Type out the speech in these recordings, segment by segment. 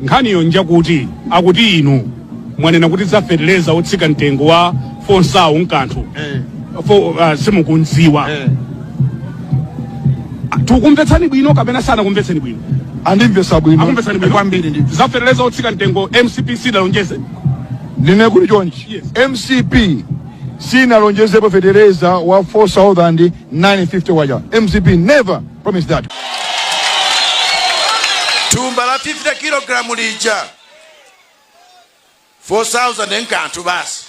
Nkhani yake njakuti akuti inu mwanena kuti za feteleza otsika mtengo wa fo sauzande nkanthu fo, uh, simukumziwa tikukumvetsani bwino kapena sanakumvetsani bwino andimvetsa bwino akumvetsani bwino kwambiri ndi za feteleza otsika mtengo mcp sidalonjeze ndinene kuti chonchi Yes. mcp sinalonjezepo fetereza wa 4950 waja mcp never promise that. thumba la 50 kilogramu lija 4000 nkanthu basi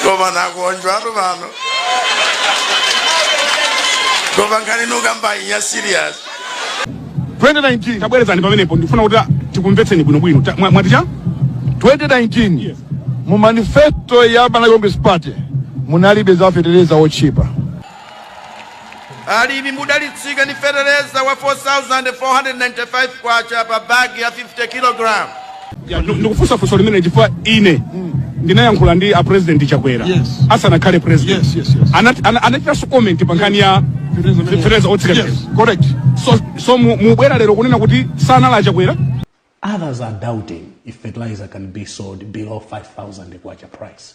koma nakuona anthu pano koma nkhani mukambayi ndi ya serious 2019 tabwerezani pamenepo ndifuna kuti tikumvetseni bwinobwino Ta- mwa- mwati chani 2019 mu manifesto ya Malawi Congress Party munalibe za fetereza otchipa alimi mudzalitsika ndi fetereza wa 4495 kwacha pa bagi ya 50 kg Ya, ndu- ndikufunsa funso limene chifukwa ine ndinayankhula ndi a president chakwera Yes. asanakhale president Yes, yes, yes. Anati- ana- anachitanso comment pa nkhani ya fetereza otsika Yes, correct. so, so mu- mubwera lero kunena kuti sanali chakwera Others are doubting if fertilizer can be sold below 5,000 kwacha price.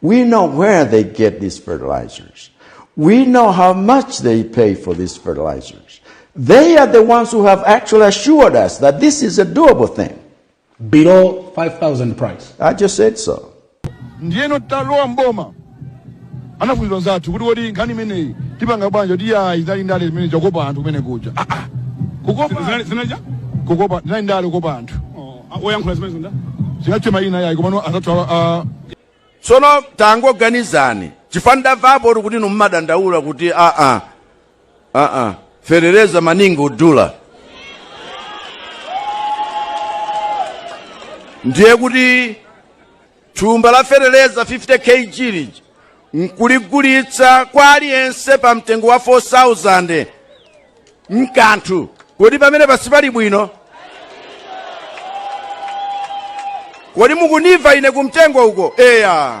We know where they get these fertilizers. We know how much they pay for these fertilizers. They are the ones who have actually assured us that this is a doable thing. Below 5,000 price. I just said so. ndiyeno talowa mboma anafunsidwa anzathu kuti kodi nkhani imeneyi tipanga bwanja kuti aa izi zinali ndale zimene zokopa anthu kumene kuja Ah, ah. kukopa Zina- zinaja? kukopa zinali ndale kukopa anthu oyankhula zimenezo ndani sinditchula mayina yayi komano anzathu awa tsono tangoganizani chifukwa ndamvapo kuti inu mumadandaula kuti aa aa fetereza maningi wodula ndiye kuti Thumba la feteleza 50 KG lija nkuligulitsa kwa aliyense pa mtengo wa 4000 nkanthu kodi pamenepa sipali bwino kodi mukunimva ine kumtengo uko eya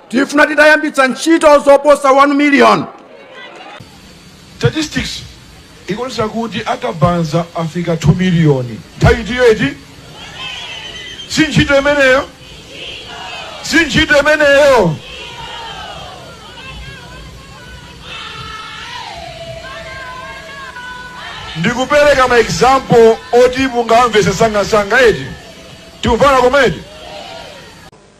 tifuna titayambitsa ntchito zoposa 1 miliyoni statistics ikuonesa kuti akabanza afika 2 miliyoni nthawi itiyo eti si ntchito imeneyo si ntchito imeneyo ndikupereka ma example oti mungamvese msangamsanga eti tikumvana komedi